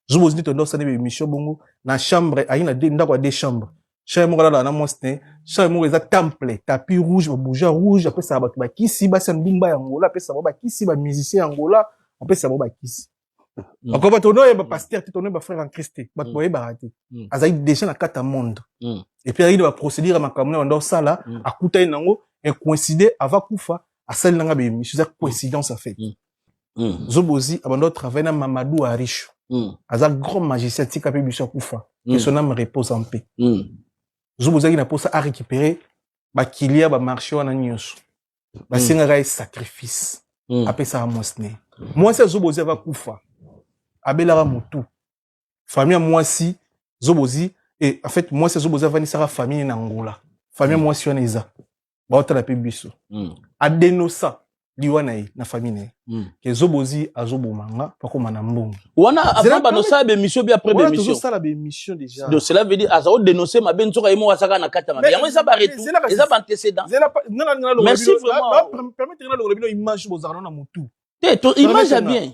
zo bozi to ndosa ne emission bongo na chambre ayi na deux ndako ya deux chambre chambre moko alala na mwasi ne chambre moko eza temple tapis rouge ba bouja rouge apesa bato bakisi basi ya ndumba ya ngola apesa bango bakisi ba musicien ya ngola apesa bango bakisi Mm. Encore bato oyo yeba mm. pasteur te tono yeba frère en Christ te bato mm. boyebaka te azali déjà na kati ya monde et puis ayaki na baprocédure ya makambo na banda osala akutani nango ecoïncide ava kufa asali nanga baemission eza coïncidence en fait Mm. Zobozi abandaki travailler na Mamadou Arisho. Mm. Aza grand magicien tika pe biso akufa. Mm. Que son âme repose en paix. Mm. Zobozi na posa a récupérer ba kilia ba marché wana nyonso. Ba mm. sengaka sacrifice. Mm. Apesa mwasi ne. Mwasi ya Zobozi ava kufa. Abelaka mutu. Famille ya mwasi Zobozi et en fait mwasi ya Zobozi avandisaka famille na Angola. Famille ya mm. mwasi wana eza. baotala mpe biso mm. adenosa liwa na ye na famille na ye mm. ke zobozi azoboma nga pakoma na mbongo wana avant banosala bemission bi après bemission tozosala bemission déjà donc cela veut dire aza odénoncer mabe nzoka ye moko azaka na kati ya mabe yango eza baretour eza baantécédent merci vraiment permettre nga longola bino image bozalaka na motu te image ya bien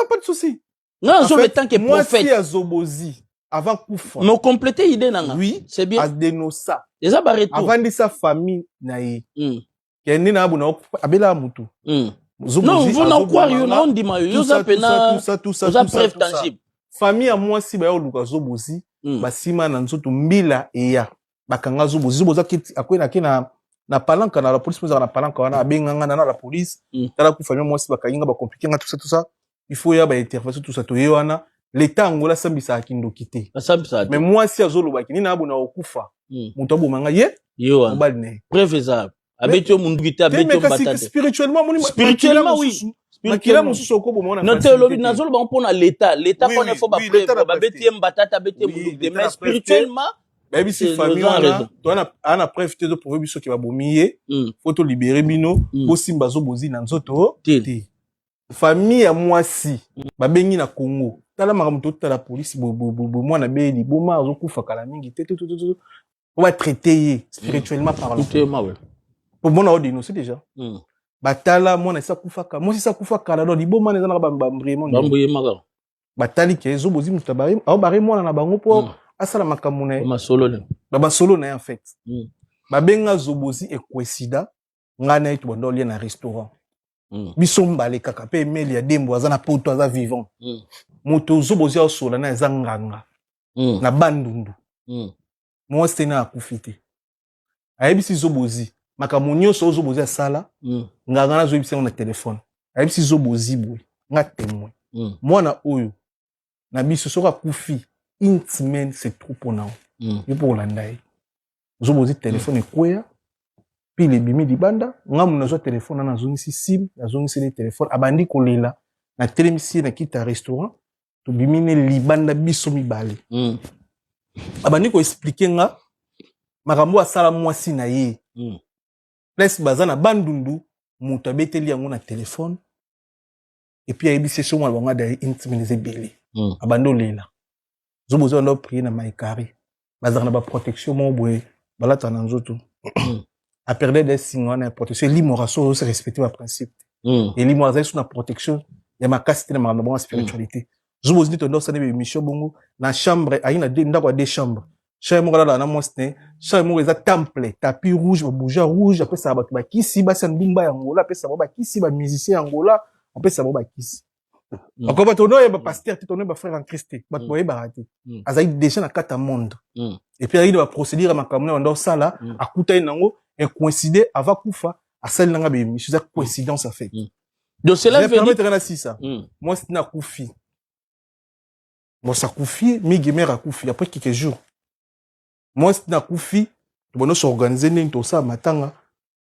pas de souci nga nazo le tant que prophète ya zobozi avant kufa me complète idée nanga oui c'est bien adenosa eza ba retour avandisa famille na ye mm. ya nde na abona abela mutu mm. non vous na croire yo na ondima yo yoza pena oza preuve tangible famille ya mwasi baye oluka zobozi mm. basima na nzoto mbila eya bakanga zobo zobo oza akwei nake na na palanka na la police mozaka na palanka wana abenga nga na la police mm. tala kufa mia mwasi bakangi nga bacomplike nga tusa tusa il faut ya baintervention tusa toye wana leta yango asambisaka kindoki te me mwasi azolobaki nini abona kokufa mm. moto aboma nga ye mobali na ye preuve eza abeti yo munduki te abeti yo mbata te spirituellement moni spirituellement oui makila mosusu okoboma wana non te olobi nazoloba mpo na leta leta mpona efo bapreuve babeti ye mbata te abeti ye munduki te mais spirituellement bayebisi famille wana toana ana preuve te ezoprouve biso ke babomi ye hmm. po tolibere bino hmm. bosimba zobozi na nzoto te famille ya mwasi hmm. babengi na congo tala makambo totala polisi mwana beye liboma azokufa kala mingi te po batraite ye spirituellement mm. parlant pomona o denonce déjà mm. batala mwana esi akufaka mwasi esi akufa kala do liboma wana ezalaka bambruyemaka batali ke ezo bozi moto ao bare mwana na bango mpo mm. asala makambo na ye basolo na ye en fait babenga zobozi ekwesida ngai na ye tobanda olie na restaurant biso mbale kaka mpe emeli ya dembo aza na poto aza vivant moto zobozi aosola na eza nganga mm. na bandundu mm. mwasi tena akufi te ayebisi zobozi makambo nyonso oyo zobozi asala mm. nganga nazoyebisa yango na telefone ayebisi zobozi boye nga temoin mm. mwana oyo na biso soki akufi une semaine c'est trop mpo na mm. yo mpo kolanda ye zobozi telefone mm. ekweya pile ebimi libanda nga mona azwa telefone ana azongisi sim azongiseli telefone abandi kolela natelemisi ye na kita restaurant tobimi ne libanda biso mibale mm. abandi koexplike nga makambo asala mwasi na ye mm. place baza na bandundu moto abeteli yango na telefone epuis ayebisi ye somo na bango adali intimilize ebele mm. abandi olela zobozo anda oprie na maikari bazalaka na baprotection moko boye balataka na nzoto aperde de singa wana ya protection elimo raso ozo respecte baprincipe hmm. elimo azali so na protection ya makasi te na makambo na bango ya spiritualité hmm. zuba ozindi tonda osali baemission bongo na chambre ayi na ndako ya deux chambre chambre moko alala na mwasi ne chambre moko eza temple tapis rouge babouja rouge apesaka bato bakisi basi ya ndumba ya ngola apesaka bango bakisi bamusicien ya ngola apesaka bango bakisi Mm. Ako bato no yeba mm. pasteur te tono yeba frère en Christ te bato mm. boyebaka te azali déjà na kati ya monde et puis ayaki na baprocédure ya makambo na banda osala akutani nango incoïncide ava kufa asali nanga bemission eza coïncidence en fait donc cela veut dire permettre na sisa moi c'est na kufi moi ça kufi migi mère akufi après quelques jours moi c'est na kufi tobono s'organiser nini tosala matanga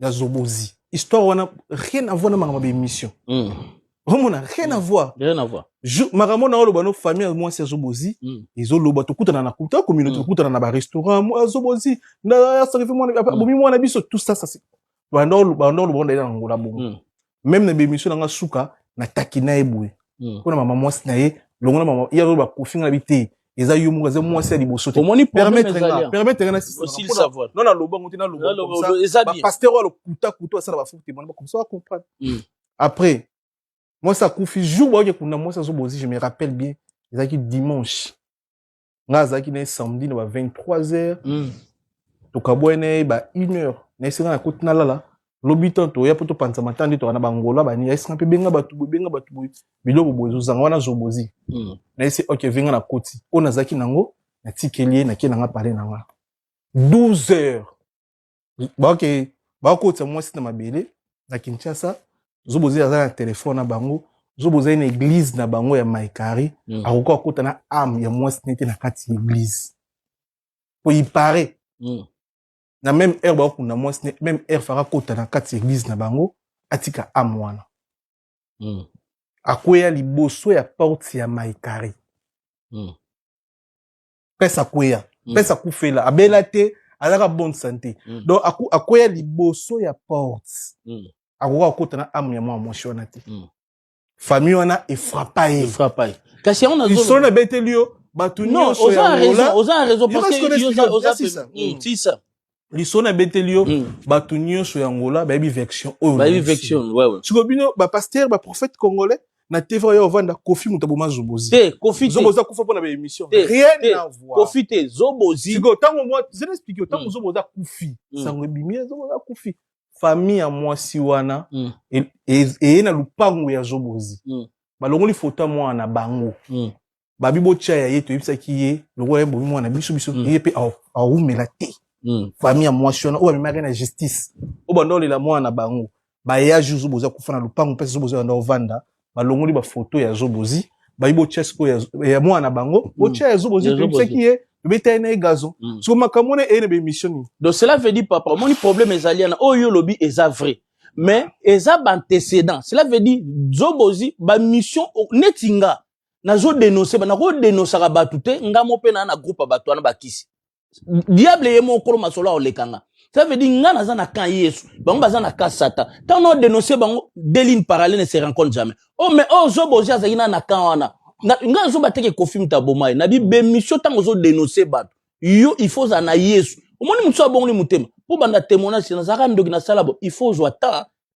ya zobozi histoire wana rien à voir na makambo ya émission mm. omona rien à hmm. voir rien à voir makambo na oloba no famille ya mwasi ya zobozi mm. ezoloba tokutana na kuta communauté mm. tokutana na barestaurant mwa zobozi asarifi mwana abomi mwana biso tout ça ça banda oloba nde na ngola bongo meme na bemission na nga suka na taki na ye boye hmm. mpo na mama mwasi na ye longola mama ye azoba kofi nga na bi te eza yo moko eza mwasi ya liboso te omoni permettre nga permettre nga na sisa non na lobango te na lobango comme ça ba pasteur wa lokuta kuta asala ba faux témoin ba comme ça comprendre hmm. après mwasi akufi jour baoke kuna mwasi azobozi je me rappelle bien ezalaki dimanche nga azalaki na ye samedi na ba 23 heures mm. tokabwai na ye ba 1 heure na esenga na koti nalala lobi tan toya mpo topanza mata nde toka na bangola bani ya esenga mpe benga bato boye benga bato boye biloko boye ezozanga wana zobozi mm. na ese ok venga na koti oyo nazalaki nango natikeli ye nake nanga pale na nga 12 heures baoke bakotisa mwasi na mabele na kinshasa zobo ozali aza na telefone na bango zobo ozali na eglize na bango ya maikari mm. akoki akota na ame ya mwasi nete na kati ya eglize po ipare mm. na meme heure bakokunda mwasi ne meme heure faka kota na kati ya eglize na bango atika ame wana mm. akweya liboso ya porte ya maikari mm. prince akweya mm. prince akufela abela te azalaka bonne santé mm. donc akweya liboso ya porte mm. akoka kokota na ame ya mwa mwasi wana te mm. famille wana efrapa ye kasi yango nazosolo nabeteli yo bato nyonso ya oza na raison parce que oza pesa lisolo nabeteli yo mm. bato nyonso ya ngola bayebi vection oyosoki bino bapaster baprophète congolais na tv oyo ovanda kofi moto aboma zobozi te kofi te zoboza kufa pona ba émission rien à voir kofi te zobozi siko tango moi je explique tango mm. zoboza kufi mm. sango ebimi zoboza kufi famille ya mwasi wana mm. eye na lupango ya zobozi balongoli foto ya mwana na bango babi botya ya ye toyebisaki ye lokola ye bomi mwana biso biso mm. ye mpe awumela te mm. famille ya mwasi wana oyo amemaki na justice oyo banda olela mwana na bango baya ju zobo oza kufa na lopango mpe zobo oza banda ovanda balongoli bafoto ya zobozi bayi botya sikoyo ya mwana na bango mm. botya ya zobozi toyebisaki ye tobetali na ye gazo siko makambo wana eye na baémission nini donc cela veut dire papa omoni problème ezali yana oyo yo olobi eza vrai mais eza baantecédent cela veut dire zobozi bamission neti nga nazo denoncer ba nako denosaka batu te nga mo pe na na groupe batu wana bakisi diable ye mo kolo masolo aoleka nga ça veut dire nga naza na camp yesu bango baza na camp satan tant no denoncer bango deux lignes parallèles ne se rencontrent jamais oh mais oh zobo ozi azali na na camp wana nga zoba teke kofi mutaboma ye na bi bemission tant ozo denoncer batu yo il faut za na yesu omoni mutu abongoli mutema po banda témoignage nazaka ndoki na sala bo il faut zwa temps